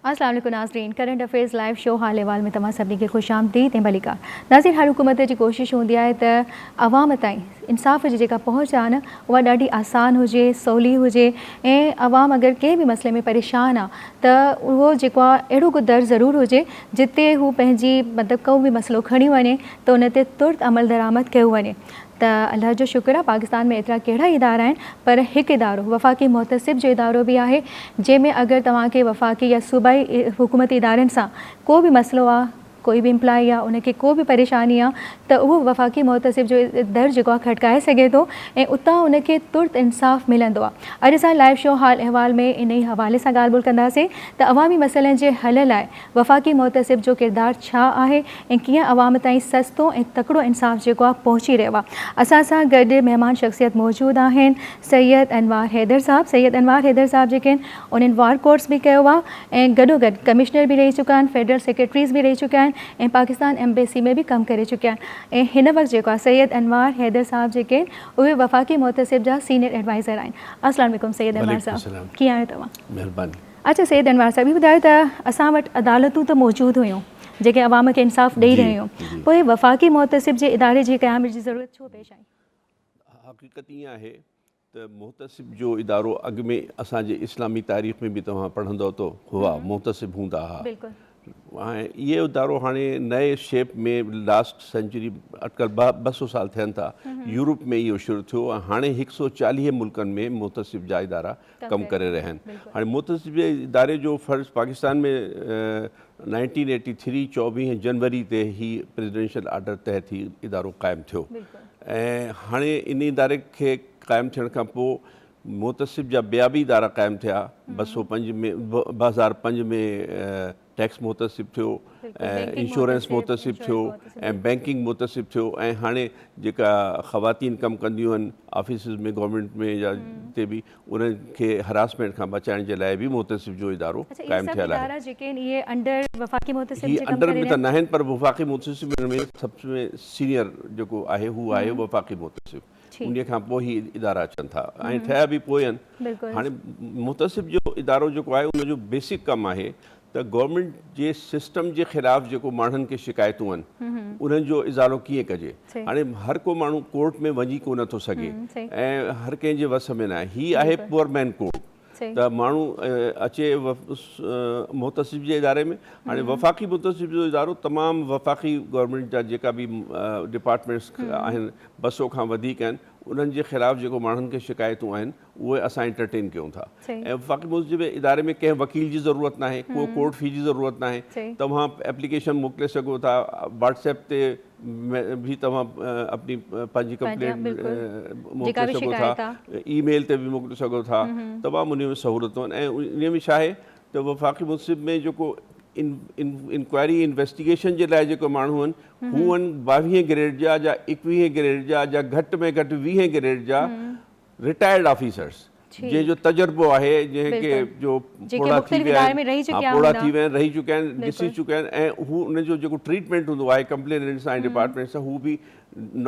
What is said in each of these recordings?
السلام عليڪم ناظرين ڪرنٽ افيئرز لائيو شو حال احوال ۾ توهان سڀني کي خوش آمديد ۽ ڀليڪار ناظرين هر حڪومت جي ڪوشش هوندي آهي ته عوام تائين انصاف جي جيڪا پهچ آهي نه اها ڏاڍي آسان هجي سولي هجي ۽ عوام اگر ڪنهن به مسئلي ۾ پريشان آهي ته اهو جيڪو آهي اهڙو ڪو در ضرور هجي جتي هو پنهنجي مطلب ڪو به مسئلو کڻي وڃي ته ان تي ترت عملدرآمد ڪيو وڃي ته الله جو شڪر آهي پاڪستان ۾ ايترا ڪهڙا ادارا آهن پر هڪ ادارو وفاقي محتسب جو ادارو به آهي جنهن ۾ اگر توهان کي وفاقي يا صوبائي حڪومتي ادارن سان ڪو به مسئلو آهي ڪوئي به امپلائي آهي ان کي ڪو به پريشاني آهي ته اهو وفاقي محتسب جو در جيڪو آهي کٽڪائي سگهي ٿو ۽ اتان ان کي ترت انصاف ملندو آهي اڄ اسان لائيو شو حال احوال ۾ انهي حوالي سان ڳالهه ٻولهه ڪنداسين ته عوامي مسئلن جي حل لاء وفاقي محتسب جو ڪردار ڇا آهي ۽ ڪيئن عوام تائين سستو ۽ تڪڙو انصاف جيڪو آهي پهچي رهيو آهي. اسان سان گڏ مهمان شخصيت موجود آهن سيد انوار حيدر صاحب سيد انوار حيدر صاحب جيڪي آهن انهن وار ڪورس به ڪيو آهي ۽ گڏوگڏ ڪمشنر به رهي چڪا آهن فيڊرل سيڪريٽريز به رهي چڪا آهن ۽ پاڪستان ايمبيسي ۾ به ڪم ڪري چڪا آهن ۽ هن وقت جيڪو آهي سيد انوار حيدر صاحب جيڪي آهن اهي وفاقي محتسب جا سينئر ايڊوائزر آهن السلام عليڪم سيد انوار صاحب ڪيئن آهيو توهان. مهرباني. اچا سيد انوار صاحب هي ٻڌايو ته اسان وٽ عدالتون ته موجود هيون جيڪي عوام کي انصاف ڏئي رهيون هيون پوء وفاقي محتسب جي اداري جي قيام جي ضرورت ڇو پيش آئي؟ حقيقت ائين آهي ته محتسب جو ادارو اڳ ۾ اسان جي اسلامي تاريخ ۾ به توهان پڙهندؤ ته هئا محتسب هوندا ها اهي ادارو هاڻي نئين شيپ ۾ لاسٽ سينچري اٽڪل ٻه سو سال ٿين ٿا يورپ ۾ اهو شروع ٿيو ۽ هاڻي هڪ سو چاليهه ملڪن ۾ محتسب جا ادارا ڪم ڪري رهيا آهن هاڻي محتسب جي اداري جو فرض پاڪستان ۾ نائنٽين ايٽي ٿري چوويهه جنوري تي هي پريزيڊنشل آرڊر تحت هي ادارو قائم ٿيو ۽ هاڻي ان اداري کي قائم ٿيڻ کان پوء محتسب جا ٻيا به ادارا قائم ٿيا، ٻه سؤ پنج ۾ ٻه هزار پنج ۾ ٽيڪس محتسب ٿيو ۽ انشورنس محتسب ٿيو ۽ بئنڪنگ محتسب ٿيو ۽ هاڻي جيڪا خواتين ڪم ڪنديون آهن آفيسز ۾ گورنمينٽ ۾ يا جتي به انهن کي هراسمينٽ کان بچائڻ جي لاء به محتسب جو ادارو قائم ٿيل آهي. هي انڊر به ته ناهن پر وفاقي محتسب هن ۾ سڀ ۾ سينئر جيڪو آهي هو آهي وفاقي محتسب. انهي کان پوء هي ادارا اچن ٿا ۽ ٺهيا به پوء آهن هاڻي محتسب جو ادارو جيڪو آهي ان جو بيسڪ ڪم آهي ته گورنمينٽ جي سسٽم جي خلاف جيڪو ماڻهن کي شڪايتون آهن انهن جو ازالو ڪيئن ڪجي هاڻي هر ڪو ماڻهو ڪورٽ ۾ وڃي ڪونه ٿو سگهي ۽ هر ڪنهن جي وس ۾ ناهي هي آهي پور مين ڪورٽ ته ماڻهو اچي محتسب جي اداري ۾ هاڻي وفاقي محتسب جو ادارو تمام وفاقي گورنمينٽ جا جيڪا به ڊپارٽمينٽس آهن ٻه سؤ کان وڌيڪ آهن انهن جي خلاف جيڪو ماڻهن کي شڪايتون آهن اهي اسان انٽرٽين ڪيون ٿا ۽ وفاقي محتسب جي اداري ۾ ڪنهن وڪيل جي ضرورت ناهي ڪو ڪورٽ في جي ضرورت ناهي توهان ايپليڪيشن موڪلي سگهو ٿا واٽس ايپ تي ۾ به توهان اپني پنهنجي ڪمپلينٽ موڪلي سگهو ٿا اي ميل تي به موڪلي سگهو ٿا تمام انهي ۾ سهولتون آهن ۽ انهي ۾ ڇاهي ته وفاقي منصف ۾ جيڪو انڪوائري انويسٽيگيشن جي لاء جيڪو ماڻهو آهن هو آهن ٻاويهين گريڊ جا جا ايڪويهين گريڊ جا جا گهٽ ۾ گهٽ ويهين گريڊ جا رٽائرڊ آفيسرس جنهن جو تجربو آهي جنهن کي جو پوڙها ٿي ويا آهن پوڙها ٿي ويا آهن رهي چڪا آهن ڏسي چڪا آهن ۽ هو ان جو جيڪو ٽريٽمينٽ هوندو آهي ڪمپليننٽ سان ۽ ڊپارٽمينٽ سان هو به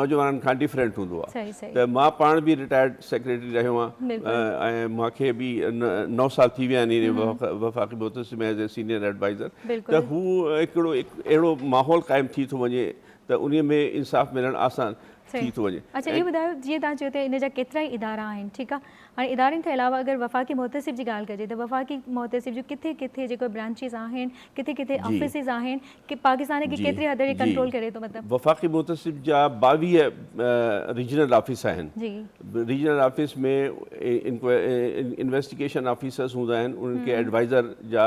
نوجوانن کان ڊفرينٽ هوندو آهي ته مان پاڻ به رٽائرڊ سيڪريٽري رهيو آهيان ۽ مون کي به نو سال ٿي ويا آهن وفاقي محتسب ۾ ايز اي سينيئر ايڊوائزر ته هو هڪڙو اهڙو ماحول قائم ٿي ٿو وڃي ته ان ۾ انصاف ملڻ آسان ٿي ٿو وڃي. اچا اهو ٻڌايو جيئن توهان چيو ته ان جا ڪيترائي ادارا آهن ٺيڪ آ هاڻي ادارن کان علاوه اگر وفاقي محتسب جي ڳالهه ڪجي ته وفاقي محتسب جون ڪٿي ڪٿي جيڪو برانچيز آهن ڪٿي ڪٿي آفيسز آهن ڪي پاڪستان کي ڪيتري حد تائين ڪنٽرول ڪري ٿو مطلب. وفاقي محتسب جا ٻاويهه ريجنل آفيس آهن ريجنل آفيس ۾ انويسٽيگيشن آفيسرز هوندا آهن انهن کي ايڊوائزر جا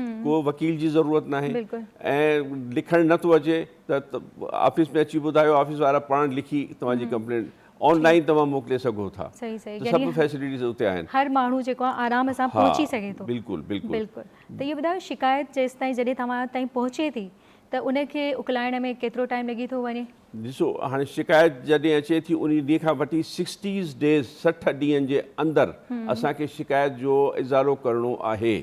ڪو وڪيل جي ضرورت ناهي ۽ لکڻ نه ٿو اچي ته آفيس ۾ اچي ٻڌايو آفيس وارا پاڻ لکي توهان جي ڪمپلينٽ آن لائن توهان موڪلي سگهو ٿا سڀ فيسلٽيز اتي آهن هر ماڻهو جيڪو آهي آرام سان پهچي سگهي ٿو بلڪل بلڪل ته اهو ٻڌايو شڪايت جيستائين جڏهن توهان تائين پهچي ٿي ته ان کي اڪلائڻ ۾ ڪيترو ٽائيم لڳي ٿو وڃي ڏسو هاڻي شڪايت جڏهن اچي ٿي انهي ڏينهن کان وٺي سڪسٽيز ڊيز سٺ ڏينهن جي اندر اسان کي شڪايت جو ازالو ڪرڻو آهي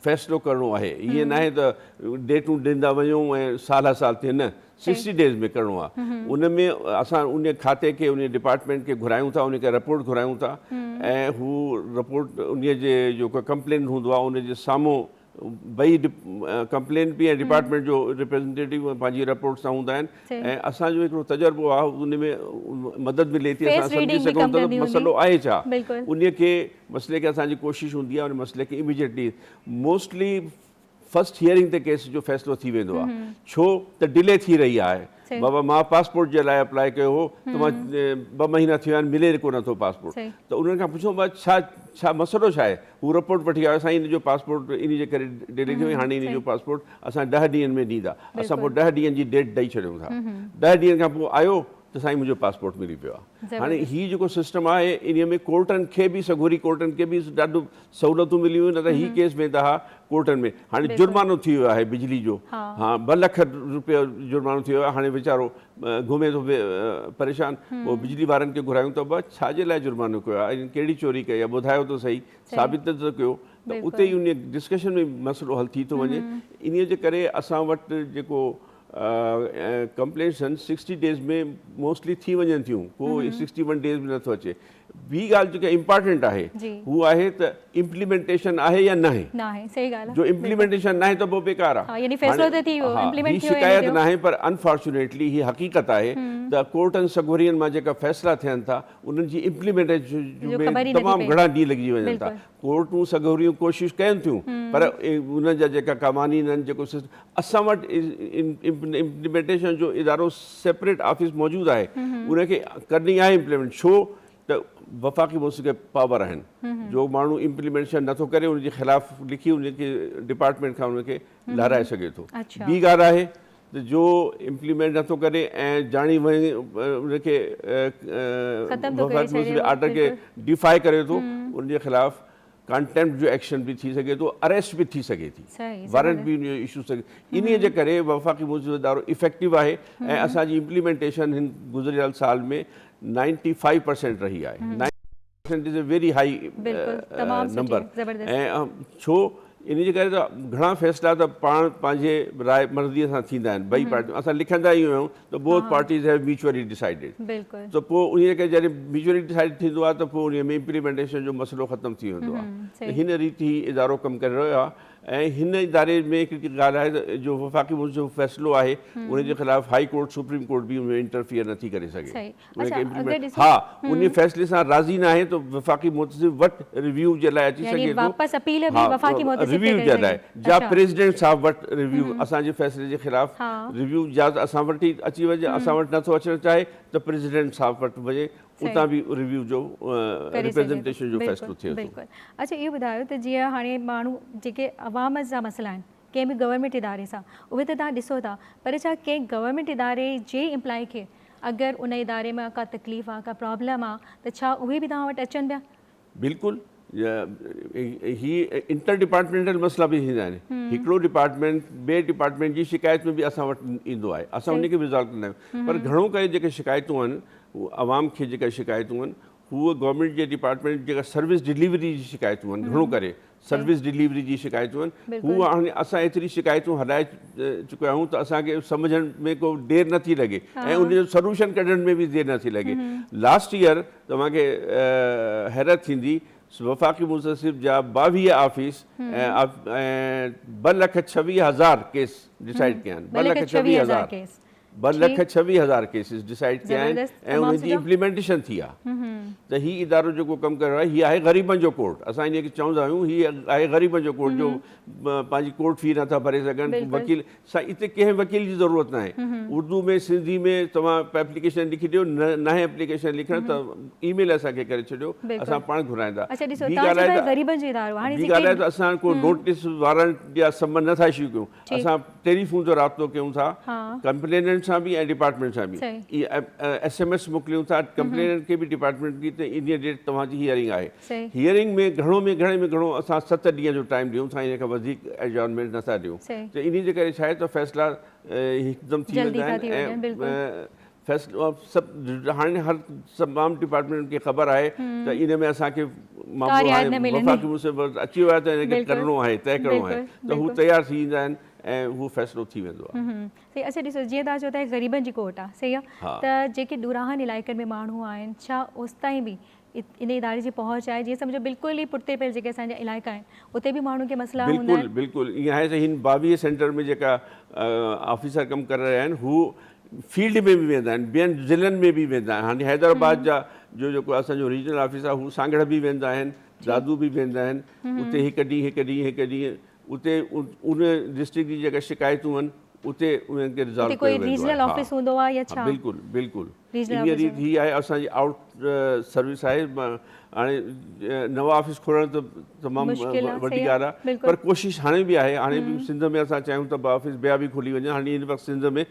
فيصلو ڪرڻو آهي ائين ناهي ته ڊيٽون ڏيندا وڃو ۽ سال هر سال ٿئي نه سڪسٽي ڊيز ۾ ڪرڻو آهي ان ۾ اسان ان کاتي کي ان ڊپارٽمينٽ کي گهرايون ٿا ان کي رپورٽ گهرايون ٿا ۽ هو رپورٽ ان جي جيڪو ڪمپلينٽ هوندو آهي ان جي سامهون ٻئي ڪمپلينٽ به ۽ ڊپارٽمينٽ جو ريپريزنٽيٽو پنهنجي رپورٽ سان هوندا آهن ۽ اسان جو هڪڙو تجربو آهي ان ۾ مدد ملي ٿي اسان سمجهي سگهون ٿا ته مسئلو آهي ڇا ان کي مسئلي کي اسان جي ڪوشش هوندي آهي ان مسئلي کي اميڊيٽلي موسٽلي فرسٽ هيئرنگ تي ڪيس جو فيصلو ٿي ويندو آهي ڇو ته ڊلي ٿي رهي آهي بابا مان پاسپورٽ جي لاء اپلاء ڪيو هو ته مان ٻه مهينا ٿي ويا آهن ملي ڪو نه ٿو پاسپورٽ ته انهن کان پڇيو بابا ڇا ڇا مسئلو ڇا آهي هو رپورٽ وٺي آيو سائين ان جو پاسپورٽ ان جي ڪري ڊيلي ٿي وئي هاڻي ان جو پاسپورٽ اسان ڏهه ڏينهن ۾ ڏيندا اسان پوء ڏهه ڏينهن جي ڊيٽ ڏئي ڇڏيون ٿا ڏهه ڏينهن کان پوء آيو ته سائين منهنجو پاسپورٽ ملي پيو آهي هاڻي هي جيڪو سسٽم آهي ان ۾ ڪورٽن کي به سگهوري ڪورٽن کي به ڏاڍو سهولتون ملي ويون نه ته هي ڪيس ويندا ها ڪورٽن ۾ هاڻي جرمانو ٿي ويو آهي بجلي جو هان ٻه لک روپيا جرمانو ٿي ويو آهي هاڻي ويچارو گهمي ٿو پريشان پوء بجلي وارن کي گهرايون ته ابا ڇا جي لاء جرمانو ڪيو آهي انهن ڪهڙي چوري ڪئي آهي ٻڌايو ته سهي ثابت ته ته ڪيو ته اتي ئي انهي ڊسڪشن ۾ مسئلو حل ٿي ٿو وڃي انهي جي ڪري اسان وٽ جيڪو ڪمپلينٽس آهن سڪسٽي ڊيز ۾ موسٽلي ٿي وڃن ٿيون ڪو سڪسٽي ون ڊيز ۾ نٿو اچي ٻي ڳالهه جيڪا امپارٽنٽ آهي هو آهي ته امپليمينٽيشن آهي يا ناهي جو امپليمينٽيشن ناهي ته پوء بيڪار آهي شڪايت ناهي پر انفارچونيٽلي هي حقيقت آهي ته ڪورٽن سگهورين مان جيڪا فيصلا ٿين ٿا انهن جي امپليمينٽيشن ۾ تمام گهڻا ڏينهن لڳجي وڃن ٿا ڪورٽون سگهوريون ڪوشش ڪين ٿيون پر ان جا جيڪا قوانين آهن جيڪو اسان وٽ امپلمينٽيشن جو ادارو سيپريٽ آفيس موجود آهي ان کي ڪرڻي آهي امپلمينٽ ڇو ته وفاقي موسيقي پاور آهن جو ماڻهو امپلمينٽيشن نٿو ڪري ان جي خلاف لکي ان کي ڊپارٽمنٽ کان ان کي لارائي سگهي ٿو ٻي ڳالهه آهي ته جو امپليمينٽ نٿو ڪري ۽ جاڻي واڻي ان کي ختم ٿو ڪري ڇڏي ۽ آرڊر کي ڊيفاء ڪري ٿو ان جي خلاف ڪانٽيمپٽ جو ايڪشن به ٿي سگهي ٿو اريسٽ به ٿي سگهي ٿي وارنٽ به ايشو ٿي سگهي انهي جي ڪري وفاقي معزز ادارو افيڪٽو آهي ۽ اسان جي امپليمينٽيشن هن گذريل سال ۾ نائنٽي فائيو پرسينٽ رهي آهي it is a very high number ۽ ڇو ان جي ڪري ته گهڻا فيصلا ته پاڻ پنهنجي راء مرضي سان ٿيندا آهن ٻئي پارٽيون اسان لکندا ئي آهيون ته both parties have mutually decided ته پوء ان جي ڪري جڏهن ميوچولي ڊسائيڊ ٿيندو آهي ته پوء ان ۾ امپليمينٽيشن جو مسئلو ختم ٿي ويندو آهي ته هن ريت هي ادارو ڪم ڪري رهيو آهي ۽ هن اداري ۾ هڪڙي ڳالهه آهي ته جو وفاقي جو فيصلو آهي ان جي خلاف هائي ڪورٽ سپريم ڪورٽ به ان ۾ انٽرفيئر نٿي ڪري سگهي اچا اڳي ڏسي ها انهي فيصلي سان راضي ناهي ته وفاقي محتسب وٽ ريويو جي لاء اچي سگهي ٿو يعني واپس اپيل به وفاقي محتسب کي ڪري سگهي ها ريويو جي لاء جا پريزيڊنٽ صاحب وٽ ريويو اسان جي فيصلي جي خلاف ريويو جاز اسان وٽ ئي اچي وڃي اسان وٽ نه ٿو اچڻ چاهي ته پريزيڊنٽ صاحب وٽ وڃي اتان به ريويو جو ريپريزينٽيشن جو فيصلو ٿئي ٿو. بلڪل اچا اهو ٻڌايو ته جيئن هاڻي ماڻهو جيڪي عوام جا مسئلا آهن ڪنهن به گورنمينٽ اداري سان اهي ته توهان ڏسو ٿا پر ڇا ڪنهن گورنمينٽ اداري جي امپلائي کي اگر ان اداري مان ڪا تڪليف آ ڪا پرابلم آ ته ڇا اهي به توهان وٽ اچن پيا. بلڪل هي انٽر ڊپارٽمينٽل مسئلا به ٿيندا آهن هڪڙو ڊپارٽمينٽ ٻئي ڊپارٽمينٽ جي شڪايت ۾ به اسان وٽ ايندو آهي اسان ان کي به ريزالو ڪندا آهيون پر گهڻو ڪري جيڪي شڪايتون آهن عوام کي جيڪا شڪايتون آهن هو گورنمينٽ جي ڊپارٽمينٽ جيڪا سروس ڊليوري جي شڪايتون آهن گهڻو ڪري سروس ڊليوري جي شڪايتون آهن هو هاڻي اسان ايتري شڪايتون هلائي چڪا آهيون ته اسان کي سمجهڻ ۾ ڪو دير نه ٿي لڳي ۽ ان جو سلوشن ڪڍڻ ۾ به دير نه ٿي لڳي لاسٽ ايئر توهان کي حيرت ٿيندي وفاقي منتسب جا ٻاويهه آفيس ۽ ٻه لک ڇويهه هزار ڪيس ڊسائيڊ ڪيا آهن ٻه لک ڇويهه هزار ٻه لک ڇويهه هزار ڪيسز ڊسائيڊ ڪيا آهن ۽ انهن جي امپليمينٽيشن ٿي آهي ته هي ادارو جيڪو ڪم ڪري رهيو آهي هي آهي غريبن جو ڪورٽ اسان ان کي چوندا آهيون هي آهي غريبن جو ڪورٽ جو پنهنجي ڪورٽ في نه ٿا ڀري سگهن وڪيل سائين اتي ڪنهن وڪيل جي ضرورت نه آهي اردو ۾ سنڌي ۾ توهان ايپليڪيشن لکي ڏيو نه هي ايپليڪيشن لکڻ ته اي ميل اسان کي ڪري ڇڏيو اسان پاڻ گهرائيندا ٻي ڳالهه ته اسان ڪو نوٽيس وارنٽ يا سمن نه ٿا اشو ڪيون اسان ٽيلي فون تي رابطو ڪيون ٿا ڪمپليننٽ سان به ۽ ڊپارٽمينٽ سان به ايس ايم ايس موڪليون ٿا ڪمپليننٽ کي به ڊپارٽمينٽ کي ته انهيء ڊيٽ توهان جي هيئرنگ آهي هيئرنگ ۾ گهڻو ۾ گهڻي ۾ گهڻو اسان ست ڏينهن جو ٽائيم ڏيون ٿا ان کان وڌيڪ ايڊجورنمينٽ نه ٿا ڏيون ته انهيء جي ڪري ڇا آهي ته فيصلا هڪدم ٿي ويندا آهن ۽ فيصلو سڀ هاڻي هر تمام ڊپارٽمينٽن کي خبر آهي ته ان ۾ اسان کي معاملو هاڻي وفاقي منصف وٽ اچي ويو آهي ته ان کي ڪرڻو آهي طئي ڪرڻو آهي ته هو تيار ٿي ويندا آهن ۽ اهو فيصلو ٿي ويندو آهي. سائين اڇا ڏسو جيئن تان چئو ته غريبن جي ڪورٽ آهي صحيح آهي ته جيڪي ڏوراهن علائقن ۾ ماڻهو آهن ڇا اوستائين به ان اداري جي پهچ آهي جيئن سمجهو بلڪل ئي پٺتي پيل جيڪي اسان جا علائقا آهن اتي به ماڻهن کي مسئلا هوندا آهن. بلڪل بلڪل ائين آهي ته هن باويهه سينٽر ۾ جيڪا آفيسر ڪم ڪري رهيا آهن هو فيلڊ ۾ به ويندا آهن ٻين ضلعن ۾ به ويندا آهن هاڻي حيدرآباد جا جو جيڪو اسان جو ريجنل آفيس آهي هو سانگهڙ به ويندا آهن دادو به ويندا آهن اتي هڪ ڏينهن هڪ ڏينهن هڪ ڏينهن اتي ان ڊسٽرڪٽ جي جيڪا شڪايتون آهن اتي انهن کي رزالو ڪيو ويندو آهي بلڪل بلڪل انهيء ريت هي آهي اسان جي آئوٽ سروس آهي هاڻي نوان آفيس کولڻ ته تمام وڏي ڳالهه آهي پر ڪوشش هاڻي به آهي هاڻي به سنڌ ۾ اسان چاهيون ته آفيس ٻيا به کلي وڃن هاڻي هن وقت سنڌ ۾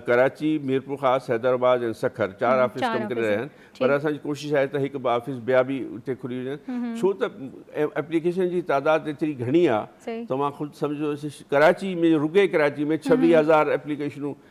ڪراچي ميرپور خاص حيدرآباد ۽ سکر چار آفيس ڪم ڪري رهيا آهن پر اسان جي ڪوشش آهي ته هڪ ٻه آفيس ٻيا به اتي کلي وڃن ڇو ته ايپليڪيشن جي تعداد ايتري گهڻي آهي توهان خود سمجهو ڪراچي ۾ رڳي ڪراچي ۾ ڇويهه هزار ايپليڪيشنون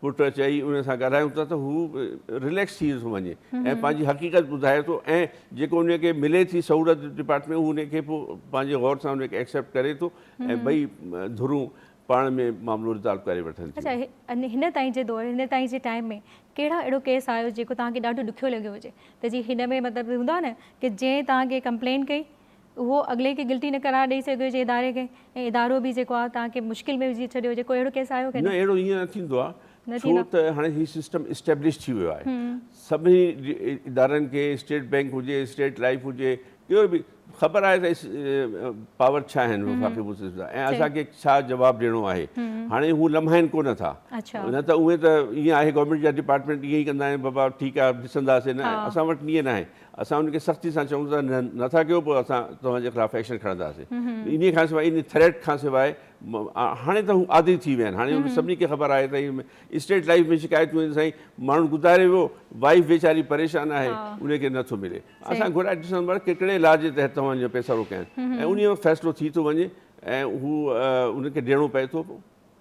پٽ چئي ان سان ڳالهايون ٿا ته هو رليڪس ٿي ٿو وڃي ۽ پنهنجي حقيقت ٻڌائي ٿو ۽ جيڪو ان کي ملي ٿي سهولت ڊپارٽمينٽ هو ان کي پوء پنهنجي غور سان ان کي ايڪسيپٽ ڪري ٿو ۽ ٻئي ڌرون پاڻ ۾ معاملو رزالو ڪري وٺن ٿيون. اچا هن تائين جي دور هن تائين جي ٽائيم ۾ ڪهڙا اهڙو ڪيس آيو جيڪو توهان کي ڏاڍو ڏکيو لڳيو هجي ته جي هن ۾ مطلب هوندا نه ڪي جنهن توهان کي ڪمپلين ڪئي اهو اڳلي کي گلٽي نه قرار ڏئي سگهيو جي اداري کي ۽ ادارو به جيڪو آهي توهان کي مشڪل ۾ وجهي ڇڏيو هجي ڪو اهڙو ڪيس آيو ڪڏهن؟ نه اهڙو ائين نه ٿيندو آهي ڇو ته هاڻي هي سسٽم اسٽيبلش ٿي ويو آهي سڀني ادارن کي اسٽيٽ بينڪ هجي اسٽيٽ لائيف هجي ڪهڙو به خبر آهي ته پاور ڇا آهن وفاقي مسلم جا ۽ اسان کي ڇا جواب ڏيڻو آهي هاڻي هو لمهائن ڪونه ٿا نه ته اهي ته ائين آهي گورنمينٽ جا ڊپارٽمينٽ ائين ئي ڪندا آهن بابا ٺيڪ آهي ڏسنداسين نه اسان وٽ ائين ناهي اسان انهن کي سختي سان چئون ته نه ٿا ڪيو پوء اسان توهان جي خلاف ايڪشن کڻنداسين انهي کان سواء انهي ٿريٽ کان سواء هاڻي ته هو عادي ٿي ويا آهن هاڻي انهن سڀني کي خبر آهي ته اسٽيٽ لائف ۾ شڪايتون آهن سائين ماڻهو گذاري ويو وائيف ويچاري پريشان آهي انهي کي نه ٿو ملي اسان گهرائي ڏسون ته ڪهڙي لا جي تحت توهان جو پئسا روڪيا آهن ۽ انهي وقت فيصلو ٿي ٿو وڃي ۽ هو انهن کي ڏيڻو پئي ٿو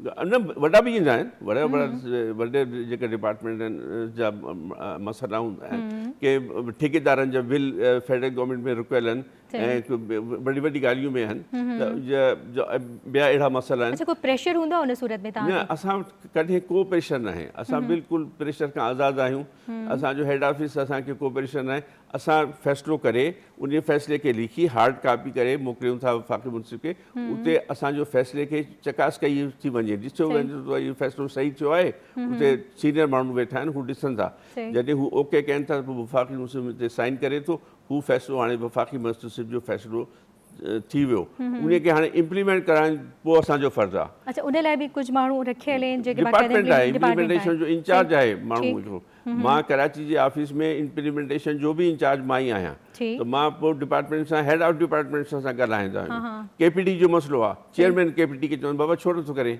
نه وڏا به ايندا آهن وڏا وڏا وڏي جيڪي ڊپارٽمينٽ آهن جا مسئلا هوندا آهن ڪي ٺيڪيدارن جا بل فيڊرل گورنمينٽ ۾ رڪيل آهن ۽ وڏي وڏي ڳالهيون به آهن ٻيا اهڙا مسئلا آهن اڇا ڪو پريشر هوندو آهي ان صورت ۾ تهان نه اسان وٽ ڪڏهن ڪو پريشر ناهي اسان بلڪل پريشر کان آزاد آهيون اسان جو هيڊ آفيس اسان کي ڪو پريشر ناهي اسان فيصلو ڪري انهي فيصلي کي لکي هارڊ ڪاپي ڪري موڪليون ٿا وفاقي منصف کي اتي اسان جو فيصلي کي چڪاس ڪئي ٿي وڃي ڏسيو وڃي ته اهو فيصلو صحيح ٿيو آهي اتي سينئر ماڻهو ويٺا آهن هو ڏسن ٿا جڏهن هو اوڪي ڪين ٿا ته پوء وفاقي منصف تي سائين ڪري ٿو هو فيصلو هاڻي وفاقي منصف جو فيصلو ٿي ويو انهي کي هاڻي امپليمينٽ ڪرائڻ پوء اسان جو فرض آ. اڇا انهي لاء به ڪجهه ماڻهو رکيل آهن جيڪي باقاعده امپليمينٽيشن جو انچارج آهي ماڻهو هڪڙو مان ڪراچي جي آفيس ۾ امپليمينٽيشن جو به انچارج مان ئي آهيان ته مان پوء ڊپارٽمينٽ سان هيڊ آف ڊپارٽمينٽ سان اسان ڳالهائيندا آهيون ڪي پي ڊي جو مسئلو آ چيئرمين ڪي پي ڊي کي چوندو بابا ڇو نٿو ڪرين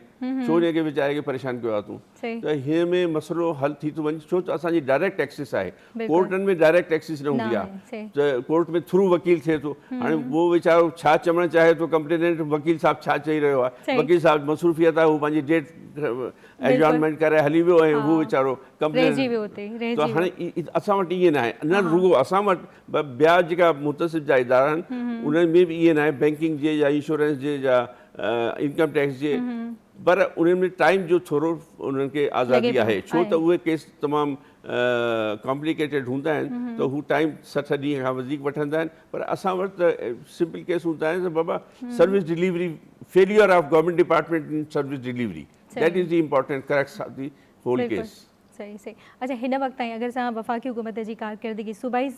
ڇو انهي کي ويچاري کي پريشان ڪيو آ تون ته هن ۾ مسئلو حل ٿي ٿو وڃي ڇو ته اسان جي ڊائريڪٽ ٽيڪسز آهي ڪورٽن ۾ ڊائريڪٽ ٽيڪسز نه هوندي آهي ته ڪورٽ ۾ ٿرو وڪيل ٿئي ٿو هاڻي هو ويچارو ڇا چوڻ چاهي ٿو ڪمپليننٽ وڪيل صاحب ڇا چئي رهيو آهي وڪيل صاحب مصروفيت آهي هو پنهنجي ڊيٽ ايڊجورنمينٽ ڪرائي هلي ويو ۽ هو ويچارو ڪمپليننٽ ته هاڻي اسان وٽ ائين ناهي نه رڳو اسان وٽ ٻيا جيڪا متصف جا ادارا آهن انهن ۾ به ائين ناهي بينڪنگ جي يا انشورنس جي يا انڪم ٽيڪس جي پر انهن ۾ ٽائيم جو ٿورو انهن کي آزادي آهي ڇو ته اهي ڪيس تمام ڪامپليڪيٽيڊ هوندا آهن ته هو ٽائيم سٺ ڏينهن کان وڌيڪ وٺندا آهن پر اسان وٽ ته سمپل ڪيس هوندا آهن ته بابا service delivery failure of government department in service delivery that is the important crux of the whole case. صحيح صحيح اچا هن وقت تائين اگر اسان وفاقي حڪومت جي ڪارڪردگي صوبائي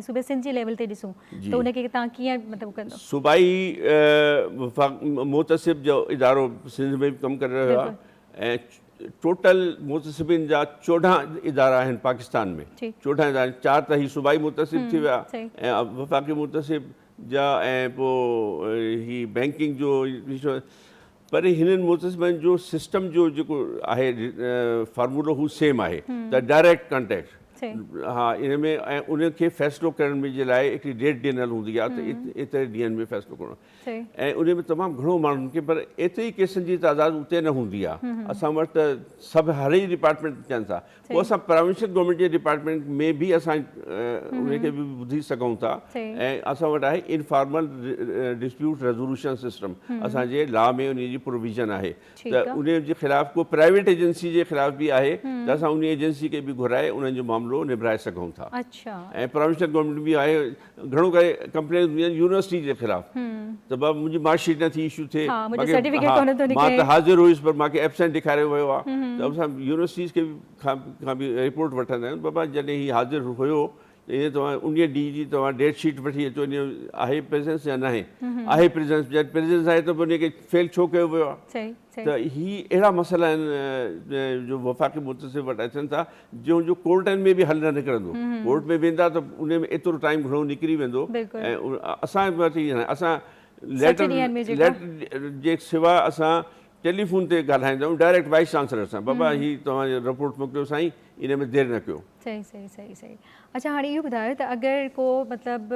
صوبي سنڌ جي ليول تي ڏسون ته ان کي تان ڪيئن مطلب ڪندو صوبائي وفاق محتسب جو ادارو سنڌ ۾ به ڪم ڪري رهيو آهي ۽ ٽوٽل محتسبين جا چوڏهن ادارا آهن پاڪستان ۾ چوڏهن ادارا چار ته هي صوبائي محتسب ٿي ويا ۽ وفاقي محتسب جا ۽ پوء هي بينڪنگ جو پر هنن محتسبن جو سسٽم جو جيڪو آهي فارمولو هو سيم آهي ته ڊائريڪٽ ڪانٽيڪٽ ها ان ۾ ۽ ان کي فيصلو ڪرڻ جي لاء هڪڙي ڊيٽ ڏنل هوندي آهي ته ايتري ڏينهن ۾ فيصلو ڪرڻو ۽ ان ۾ تمام گهڻو ماڻهن کي پر ايتري ڪيسن جي تعداد اتي نه هوندي آهي اسان وٽ ته سڀ هر ئي ڊپارٽمينٽ ڪن ٿا پوء اسان پراونشل گورنمينٽ جي ڊپارٽمينٽ ۾ به اسان ان کي به ٻڌي سگهون ٿا ۽ اسان وٽ آهي انفارمل ڊسپيوٽ ريزولوشن سسٽم اسان جي لا ۾ ان جي پروويزن آهي ته ان جي خلاف ڪو پرائيويٽ ايجنسي جي خلاف به آهي ته اسان ان ايجنسي کي به گهرائي انهن جو معاملو نبرائي سگهون ٿا ۽ پراونشل گورنمينٽ به آهي گهڻو ڪري ڪمپلينز هونديون آهن يونيورسٽي جي خلاف ته بابا منهنجي مارڪ شيٽ نه ٿي ايشو ٿئي مان ته حاضر هيس پر مانکي ايبسينٽ ڏيکاريو ويو آهي ته اسان يونيورسٽيز کي کان به رپورٽ وٺندا آهيون بابا جڏهن هي حاضر هيو ته توهان ان ڏينهن جي توهان ڊيٽ شيٽ وٺي اچو ان آهي پريزنس يا ناهي آهي پريزنس جڏهن پريزنس آهي ته ان کي فيل ڇو ڪيو ويو آهي ته هي اهڙا مسئلا آهن جو وفاقي متصل وٽ اچن ٿا جنهن جو ڪورٽن ۾ به حل نه نڪرندو ڪورٽ ۾ ويندا ته ان ۾ ايترو ٽائيم گهڻو نڪري ويندو ۽ اسان وٽ اسان ليٽر جي سوا اسان ٽيليفون تي ڳالهائيندا آهيون ڊائريڪٽ وائيس چانسلر سان بابا هي توهان جي رپورٽ موڪليو سائين ان ۾ دير نه ڪيو. صحيح صحيح صحيح صحيح اڇا هاڻي اهو ٻڌايو ته اگر ڪو مطلب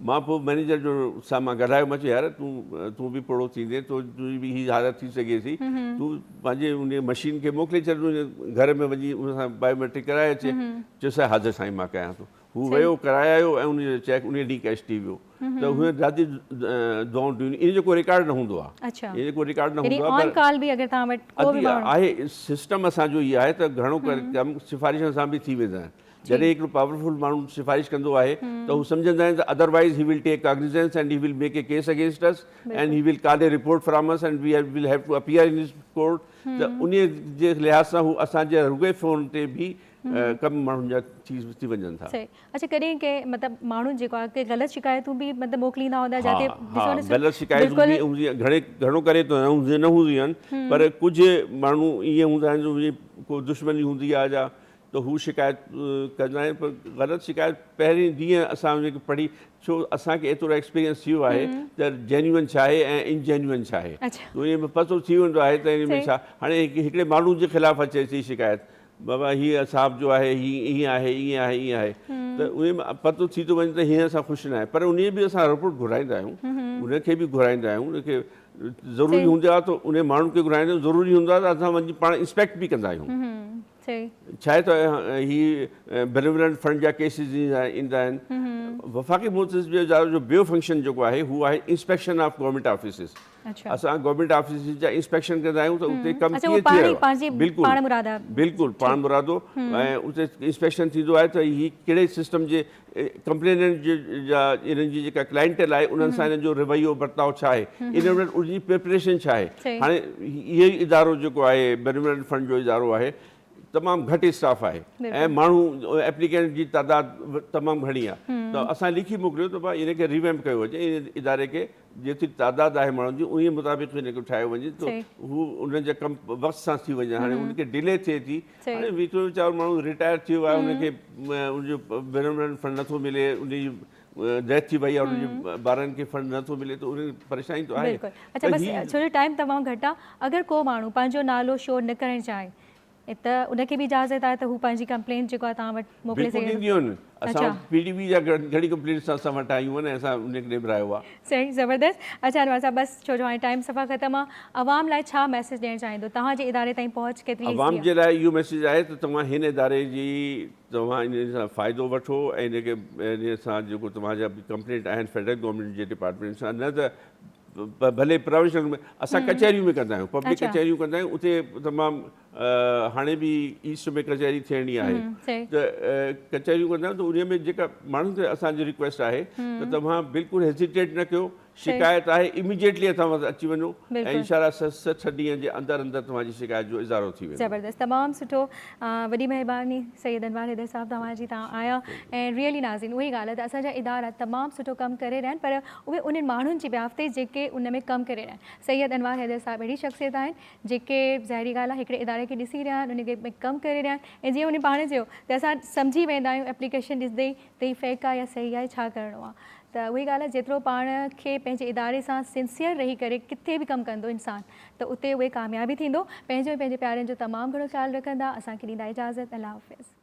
مان پوء مئنيجر جو سامان ڪڍايو، مان چيو يار تون تون به پوڙهو ٿيندين، تنهنجي به هي حالت ٿي سگهي ٿي، تون پنهنجي ان مشين کي موڪلي ڇڏ تنهنجي گهر ۾ وڃي ان سان بائيوميٽرڪ ڪرائي اچي، چيس ها حاضر سائين مان ڪيان ٿو، هو ويو ڪرائي آيو ۽ ان جو چيڪ انهيء ڏينهن ڪئش ٿي ويو ته هن دادي دعائون ڏنيون، ان جو ڪو رڪارڊ نه هوندو آهي، ان جو ڪو رڪارڊ نه هوندو آهي پر آهي سسٽم اسان جو هي آهي ته گهڻو ڪري ڪم سفارشن سان به ٿي ويندا آهن. جڏهن هڪڙو پاورفل ماڻهو سفارش ڪندو آهي ته هو سمجهندا آهن ته otherwise he will take cognizance and he will make a case against us and he will call a report from us and we will have to appear in his court ته انهي جي لحاظ سان هو اسان جي رڳوئي phone تي به ڪم ماڻهن جا ٿي ٿي وڃن ٿا اڇا ڪڏهن ڪنهن مطلب ماڻهو جيڪو آهي ڪي غلط شڪايتون به مطلب موڪليندا هوندا جاتي ها ها غلط شڪايتون به هوندي آهن گهڻي گهڻو ڪري ته نه هوندي نه هوندي آهن پر ڪجهه ماڻهو ائين هوندا آهن جو ڪو دشمني هوندي آهي جا ته هو شڪايت ڪندا آهن پر غلط شڪايت پهرين ڏينهن اسان جيڪي پڙهي ڇو اسان کي ايترو ايڪسپيرينس ٿي ويو آهي ته جينيون ڇا آهي ۽ ان جينيون ڇا آهي انهي ۾ پتو ٿي ويندو آهي ته انهي ۾ ڇا هاڻي هڪڙي ماڻهو جي خلاف اچي ٿي شڪايت بابا هي صاحب جو آهي هي ائين آهي ائين آهي ائين آهي ته انهي ۾ پتو ٿي ٿو وڃي ته هيئن سان خوش نه آهي پر انهي به اسان رپورٽ گهرائيندا آهيون انهي کي به گهرائيندا آهيون انهي کي ضروري هوندي آهي ته انهي ماڻهو کي گهرائيندا آهيون ضروري هوندو آهي ته اسان وڃي پاڻ انسپيڪٽ به ڪندا آهيون صحيح. ڇاهي ته هي بينيولنٽ فنڊ جا ڪيسز ايندا آهن. وفاقي محتسب جي ادارو جو ٻيو فنڪشن جيڪو آهي هو آهي انسپيڪشن آف گورنمينٽ آفيسز. اسان گورنمينٽ آفيسز جا انسپيڪشن ڪندا آهيون ته اتي ڪم ڪيئن ٿي رهيو آهي. بلڪل بلڪل پاڻمرادو ۽ اتي انسپيڪشن ٿيندو آهي ته هي ڪهڙي سسٽم جي ڪمپليننٽ جا انهن جي جيڪا ڪلائنٽل آهي انهن سان انهن جو رويو برتاء ڇا آهي انهن وٽ ان جي پريپريشن ڇا آهي هاڻي اهو ئي ادارو جيڪو آهي بينملڪ فنڊ جو ادارو آهي تمام گهٽ اسٽاف آهي ۽ ماڻهو ايپليڪينٽ جي تعداد تمام گهڻي آهي ته اسان لکي موڪليو ته بابا ان کي ريويمپ ڪيو وڃي ان اداري کي جيتري تعداد آهي ماڻهن جي انهي مطابق ان کي ٺاهيو وڃي ته هو ان جا ڪم وقت سان ٿي وڃن هاڻي ان کي ڊلي ٿئي ٿي هاڻي ويچو ويچارو ماڻهو رٽائر ٿي ويو آهي ان کي ان جو بينرمنٽ فنڊ نٿو ملي ان جي ڊيٿ ٿي وئي آهي ان جي ٻارن کي فنڊ نٿو ملي ته ان پريشاني ته آهي اچا بس ڇو جو ٽائيم تمام گهٽ آهي اگر ڪو ماڻهو پنهنجو نالو شو نه ڪرڻ چاهي ته ان کي به اجازت آهي ته هو پنهنجي ڪمپلينٽ جيڪو آهي توهان وٽ موڪلي سگهي ٿو اسان وٽ پي ڊي بي جا گهڻي ڪمپلينٽس اسان وٽ آيون آهن ۽ اسان انهن کي نبرايو آهي. سائين زبردست اچا انور صاحب بس ڇو جو هاڻي ٽائيم صفا ختم آ عوام لاء ڇا ميسيج ڏيڻ چاهيندو توهان جي اداري تائين پهچ ڪيتري ايزي آ. عوام جي لاء اهو ميسيج آهي ته توهان هن اداري جي توهان ان سان فائدو وٺو ۽ ان کي ان سان جيڪو توهان جا به ڪمپلينٽ آهن فيڊرل گورنمينٽ جي ڊپارٽمينٽ سان نه ته ڀلي پراويشنل ۾ اسان ڪچهريون ۾ ڪندا آهيون پبلڪ ڪچهريون ڪندا آهيون اتي تمام هاڻي به ايسٽ ۾ ڪچهري ٿيڻي آهي ته ڪچهريون ڪندا آهيون ته انهي ۾ جيڪا ماڻهن کي اسان جي رڪويسٽ آهي ته توهان بلڪل هيزيٽيٽ نه ڪيو شڪايت آهي اميڊيٽلي اسان وٽ اچي وڃو ۽ انشاء الله سٺ ڏينهن جي اندر اندر توهان جي شڪايت جو ازارو ٿي ويندو زبردست تمام سٺو وڏي مهرباني سيد انوار حيدر صاحب توهان جي تان آيا ۽ ريئلي ناظرين اهي ڳالهه آهي ته اسان جا ادارا تمام سٺو ڪم ڪري رهيا آهن پر اهي انهن ماڻهن جي بيافتي جيڪي ان ۾ ڪم ڪري رهيا آهن سيد انوار حيدر صاحب اهڙي شخصيت آهن جيڪي ظاهري ڳالهه آهي هڪڙي اداري کي ڏسي رهيا آهن ان کي ۾ ڪم ڪري رهيا آهن ۽ جيئن هن پاڻ چيو ته اسان سمجهي ويندا آهيون ايپليڪيشن ڏسندي ئي ته هي فيڪ آهي يا صحيح آهي ڇا ڪرڻو آهي ته اهو ئي ڳالهه آهي جيترو پاڻ کي پنهنجي اداري سان سنسيئر رهي ڪري ڪٿي به ڪم ڪندو انسان ته اتي اهي ڪامياب ئي ٿيندو پنهنجو ۽ پنهنجي پيارن جو تمام گهڻو خيال رکندا اسان کي ڏيندا اجازت الله حافظ.